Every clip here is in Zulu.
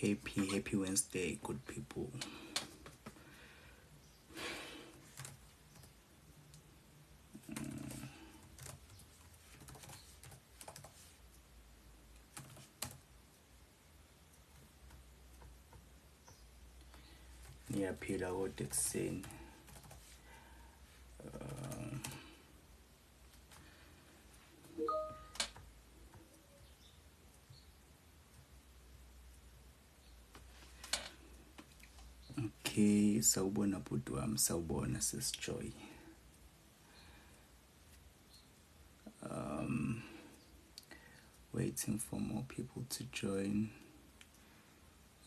happy happy wednesday good people ngiyaphila kodwa ekuseni um, okay sawubona bhuti wami sawubona sesijoy um, waiting for more people to join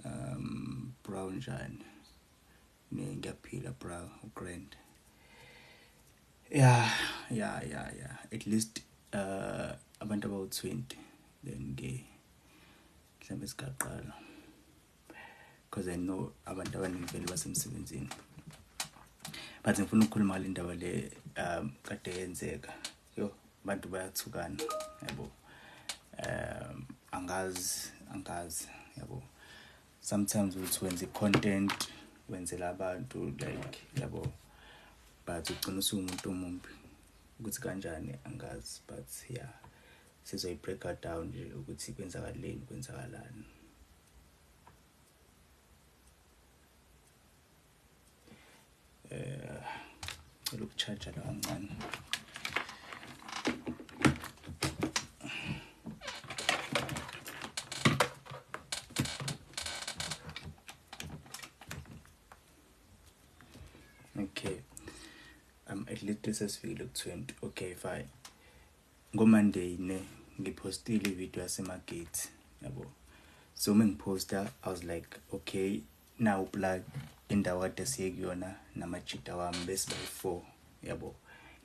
um bro njani ne ngiyaphila bro grand yeah yeah yeah yeah at least uh abantu abawu-20 then ke mhlawumbe sigaqala because I know abantu abaningi vele basemsebenzini but ngifuna ukukhuluma ngale ndaba le um kade yenzeka yo abantu bayathukana yabo um angazi angazi yabo sometimes uthi wenza i-content wenzela abantu like yabo but ugcina usuwumuntu omumbi ukuthi kanjani angazi but yeah Sizoyi breaker down nje ukuthi kwenzakaleni kwenzakalani. Eh cela ukucharge la kancane. Okay. Um at least this is feel 20. Okay, fine. ngomonday ne ngiphostile ivideo yasemagate yabo so uma ngiphosta i was like okay nawu plug indawo kade siye kuyona namajita wami bese bayi-four yabo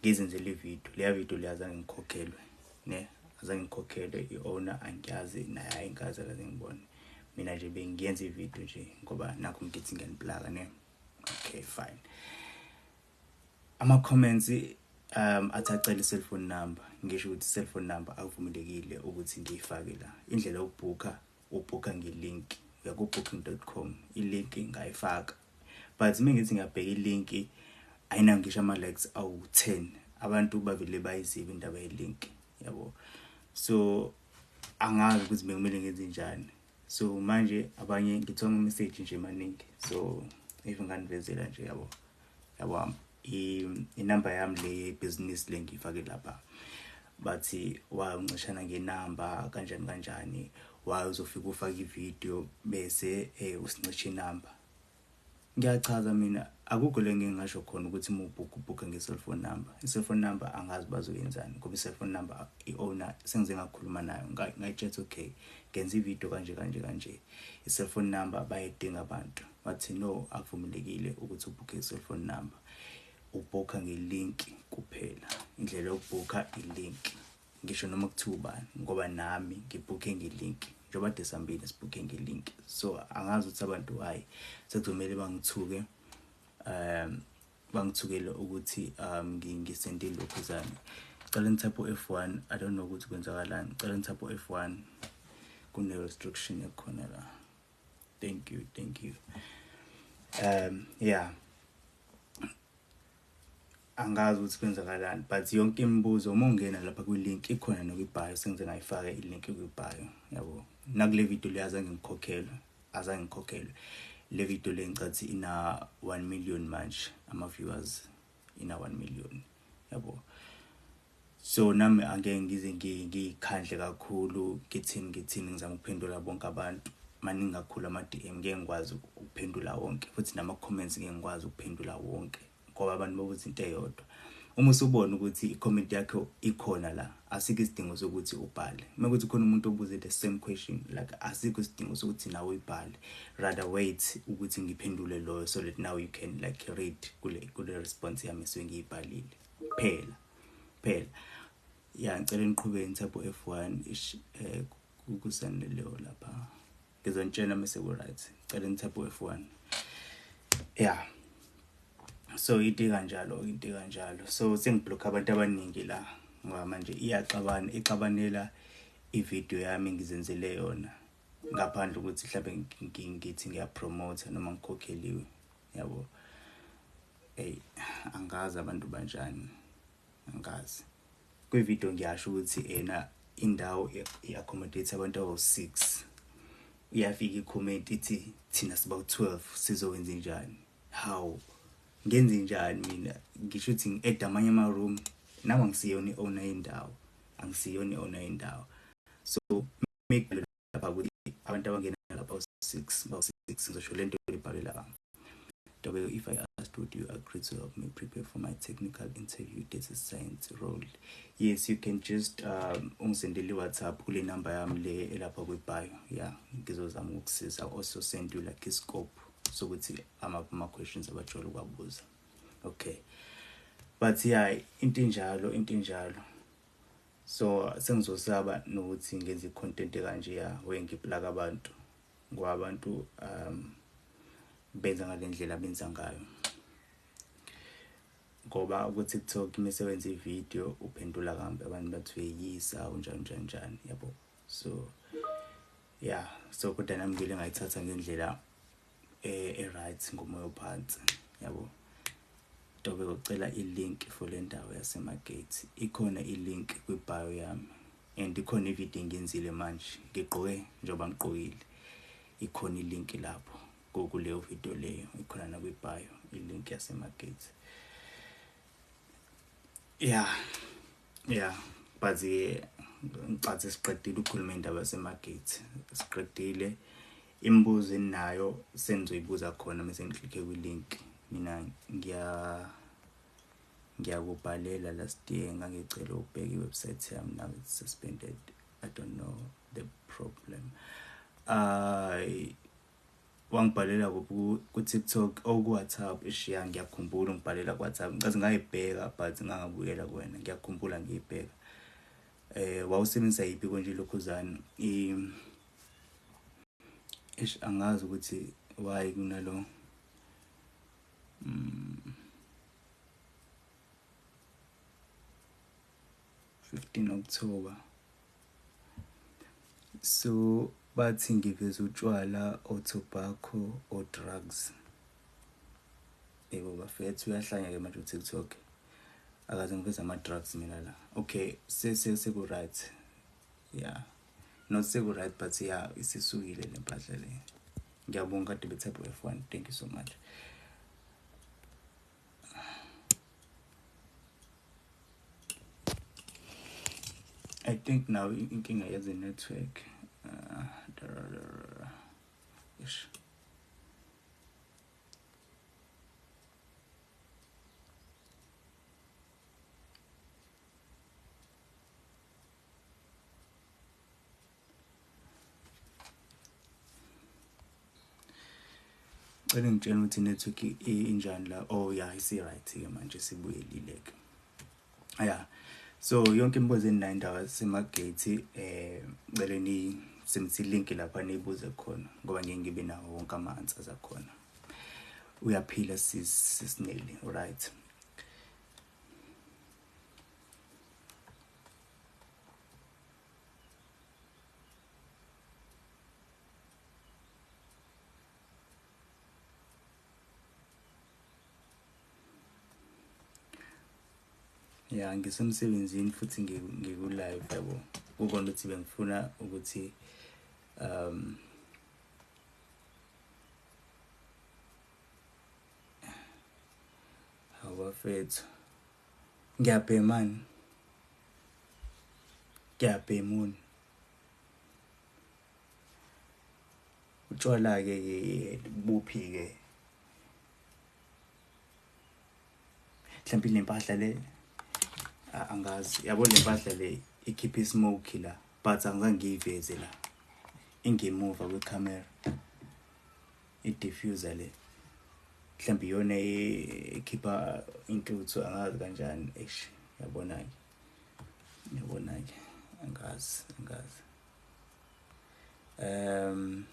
ngizenzela ivideo leya video leyo azange ngikhokhelwe ne azange ngikhokhelwe i-owner angiyazi naye ayinkazi akaze ngibone mina nje bengiyenza ivideo nje ngoba nakho ngithi ngiyanibulaka ne okay fine Ama comments um athi acela i-cellphone number ngisho ukuthi i-cellphone number akuvumelekile ukuthi ngiyifake la. Indlela yokubhukha ubhukha nge-link uya ku-booking.com i-link ngayifaka but uma ngithi ngiyabheka i-link ayinawo ngisho ama-likes awu-10 abantu bavele bayizibe indaba ye-link yabo so angazi ukuthi bekumele ngenze njani so manje abanye ngithonga umessage nje maningi so even nganivezela nje yabo yabo inumber yami le yebhizinisi le ngiyifake lapha bathi wa uncishana ngenamba kanjani kanjani wa uzofika ufake ividiyo bese um usincisha inamba Ngiyachaza mina akukho le ngeke ngasho khona ukuthi uma ubhukha ubhukha nge-cellphone number i-cellphone number angazi bazoyenzani ngoba i-cellphone number i-owner sengize ngakhuluma nayo ngayitshetha okay ngenza ividiyo kanje kanje kanje i-cellphone number bayedinga abantu wathi no akuvumelekile ukuthi ubhukhe i-cellphone number ubhukha nge-link kuphela indlela yokubhukha i-link ngisho noma kuthiwa ubani ngoba nami ngibhukhe nge-link njengoba de sambile sibhukhe nge-link so angazi ukuthi abantu hhayi sekuzomele bangithuke um bangithukele ukuthi um ngisende lokhu zami cela ngithaphe u-f one i don't know ukuthi kwenzakalani cela ngithaphe u-f one kune-restriction ekhona la thank you thank you um yeah angazi ukuthi kwenzakalani but yonke imibuzo uma ungena lapha kwi-link ikhona nokwi-bio sengize ngayifaka i-link kwi-bio yabo nakule video le azange ngikhokhelwe azange ngikhokhelwe le video le ngicathi ina 1 million manje ama-viewers ina 1 million yabo So nami angeke ngize ngikhandle kakhulu ngithini ngithini ngizama ukuphendula bonke abantu maningi kakhulu ama-DM ngeke ngikwazi ukuphendula wonke futhi nama-comments ngeke ngikwazi ukuphendula wonke ngoba abantu babuza into eyodwa uma usubona ukuthi i-comment yakhe ikhona la asikho isidingo sokuthi ubhale uma kuthi khona umuntu obuze the same question like asikho isidingo sokuthi nawe uyibhale rather wait ukuthi ngiphendule loyo so that now you can like read kule kule response yami esuke ngiyibhalile kuphela kuphela ya ngicela niqhube ngithapho F1 ish eh kukusane leyo lapha ngizonitshela mase ku right ngicela ngithapho F1 yeah so iti kanjalo iti kanjalo so sengiblock abantu abaningi la ngoba manje iyaxabana ixabanela ivideo yami ngizenzele yona ngaphandle ukuthi mhlawumbe ngithi ngiyapromote noma ngikhokheliwe yabo eyi angazi abantu banjani angazi kwividiyo ngiyasho ukuthi ena indawo i-accommodate abantu abawu-six iyafika ikhomenti ithi thina siba u-12 sizowenza njani hawu ngenze njani mina ngisho ukuthi ngi-eda amanye ama-room nami angisiyona i-owner yendawo angisiyona i-owner yendawo so make lapha ukuthi abantu abangena lapha u-six bawu-six ngizosho le nto ebhalwe lapha Dabeo, if I asked, would you agree to help me prepare for my technical interview data science role? Yes, you can just um, ungisendele i-WhatsApp kule number yami le elapha kwi-bio. Yeah, ngizozama ukusiza. Also send you like i-scope sokuthi amaphi ama-questions abajwayele ukuwabuza. Okay. But yeah, into enjalo, into enjalo. So sengizosaba nokuthi ngenze icontent ekanje ya we ngiplaka abantu ngoba abantu um benza ngalendlela benza ngayo ngoba ku TikTok imisebenzi ivideo uphendula kambe abantu bathi uyeyisa unjani njani njani yabo so yeah so kodwa nami ngile ngayithatha ngendlela eh right ngomoya ophansi yabo Dobe ucela i-link for le ndawo yaseMagate ikhona i-link kwi-bio yami and ikhona ividiyo engiyenzile manje ngigqoke njengoba ngigqokile ikhona i-link lapho kuleyo vidiyo leyo ikhona nakwi-bio i-link yaseMagate ya ya but eh, ngicathi siqedile ukukhuluma indaba yaseMagate siqedile Imibuzo eninayo senizoyibuza khona mese ngiklikhe kwi link mina ngiya ngiyakubhalela last year ngangicela ukubheka iwebsite yami now it's suspended i don't know the problem i wangibhalela ku TikTok or oh, ku WhatsApp ishiya ngiyakhumbula ungibhalela ku WhatsApp ngicathi ngayibheka but ngangabuyela kuwena ngiyakhumbula ngiyibheka eh wawusebenzisa yipi konje lokhuzana i Eish angazi ukuthi why kunalo mm, 15 October so bathi ngiveza utshwala or tobacco or drugs yebo bafethu uyahlanya ke manje uTikTok akaze ngiveza ama drugs mina la okay sese seku right yeah not seku right but ya isisukile le mpahla le ngiyabonga kade bethapho f1 thank you so much I think now inkinga yeze network uh, ish cela ngitshela ukuthi network injani la oh ya isi-right ke manje sibuyelile-ke ya so yonke imibuzo eninayo indaba semagate um eh, cele nisebenzisa ilinki lapha niyibuze khona ngoba ngeke ngibe nawo wonke ama-answer zakhona uyaphila sisineli right ya ngisemsebenzini futhi ngikulive yabo kukona ukuthi bengifuna ukuthi um Awafethu. Ngiyabhemani. Ngiyabhemuni. Utshwala ke buphi ke? Mhlawumbe lempahla le angazi yabo lempahla le ikhipha ismoke la but angizange ngiyiveze la ingemuva kwecamera I diffuser le. Mhlambi yona ekhipha intuthu angazi kanjani eish yabona ke. Yabona ke angazi angazi. Um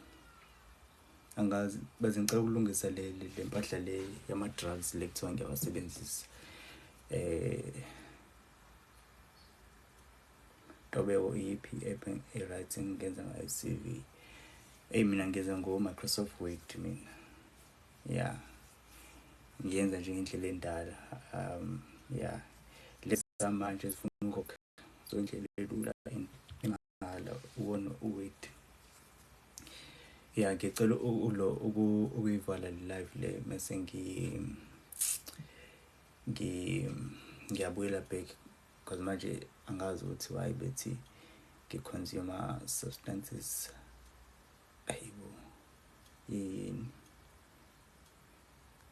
angazi baze ngicela ukulungisa le le mpahla le yama drugs le kuthiwa ngiyawasebenzisa. Eh Ntobeko iyiphi i-app e-right engingenza ngayo i-CV eyi mina ngenza ngo-Microsoft Word mina ya yeah. ngiyenza nje ngendlela endala um ya yeah. lezi zamanje zifuna ukukhokhela so indlela elula engala uwona uword ya ngicela ulo ukuyivala live le mase ngi ngi ngiyabuyela back Because manje angazi ukuthi why bethi ngi-consumer substances ayibo yini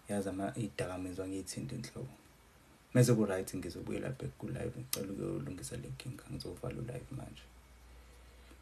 yazi ama idakamizwa ngiyithinta inhloko mese ku-right ngizobuyela back ku-live ngicela ukuyolungisa le nkinga ngizovala u-live manje